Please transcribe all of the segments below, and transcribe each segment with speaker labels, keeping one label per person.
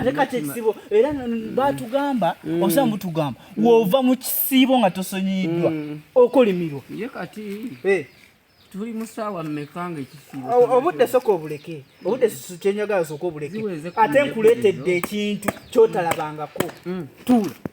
Speaker 1: ate kati ekisibo era mm. batugamba mm. osa mutugamba mm. wova mu kisiibo nga tosonyiyiddwa okolimirwa ye kati eh. tuli musaawa mmeka nga ekisiibo obudde soka obuleke obudde kyenyagala soka obuleke ate nkuleetedde ekintu kyotalabangako tuula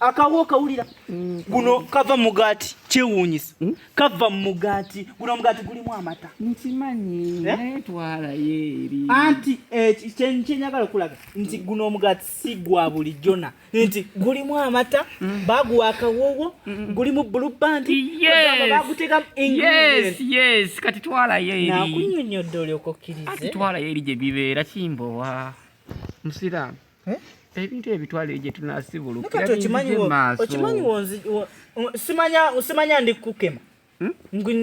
Speaker 1: akawo okawulira mm. guno kava mugaati kyewuunyisa mm. kava mugaati guno mugaati gulimu amata nkimanyi eh? naye twalayo eri anti eh, kyenyagala okulaga nti guno omugaati si gwa buli jona nti gulimu amata mm. baguwa akawowo gulimu bulubandi bagutekamu yes kati twalayo eri nakunyonyodde olyokokkirize twalayo eri gye bibeera kimbowa musiraamu eh? ebintu ebitwala eyo gyetunasibulukimanyiwonsimanya ndi kukukema hmm?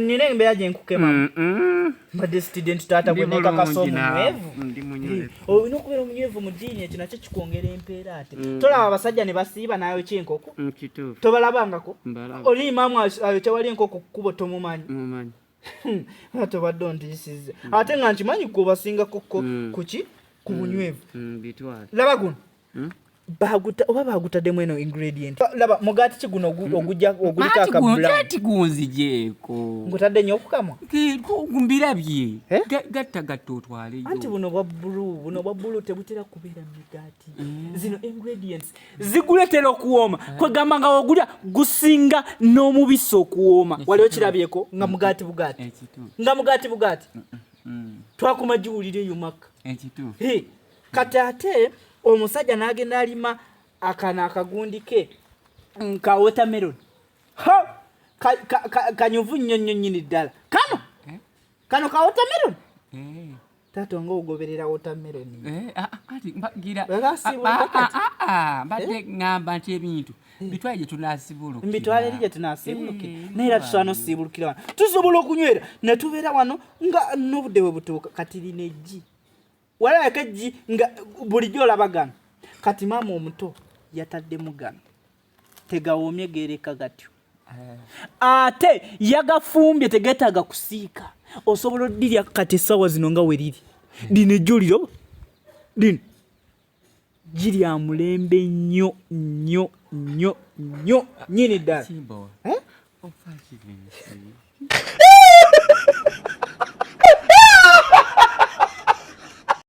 Speaker 1: nina embeera gyenkukema mm, mm. mbadde student taata gwenekakasa omunywevu olina okubeera omunywevu mu diini ekyo nakyo kikwongera empeera ate mm. tolaba abasajja ne basiiba nayo kyenkoko tobalabangako oli imaamu ayo kyewali enkoko kukubo tomumanyi tobadde ontisiza mm. ate nga nkimanyi kubasingako ko mm. kuki ku mm. bunywevu laba guno baguta oba bagutaddemu eno ingredient laba mugati ki guno ogujja oguliko akabulati gunzijeeko ngutadde nnyo okukamwa mbirabye eh? gatta gatta otwaleyo anti buno bwa bbulu buno bwa bbulu tebutera kubeera mu migaati zino ingredients ziguletera okuwooma eh. kwegamba nga wogulya gusinga n'omubisi okuwooma wali okirabyeko nga mugaati bugaati eh, nga mugaati bugaati mm, mm, mm. twakuma giwulira eyo makka eh, kati ate omusajja n'agenda alima akana akagundi ke ka watermelon kanyuvu nnyo nnyo nnyini ddala kano kano ka watermelon taata nga ogoberera wotameroni eh, ah, ah, kati mbagira ah,
Speaker 2: mbadde eh? ŋŋamba nti ebintu eh. bitwale gye tunasibulukira mbitwale eri gye
Speaker 1: tunasibulukira naye era tusobola nosiibulukira wano tusobola okunywera ne tubeera wano nga n'obudde bwe butuuka kati lina eggi walabako eggi nga bulijjo olaba gano kati maama omuto yataddemu gano tegawoomye geereka gatyo eh. ate yagafumbye tegeetaaga kusiika osobola odirya kati essaawa zino nga weriri lino ejjuliro lino girya mulembe nnyo nnyo nnyo nnyo nyini ddala eh?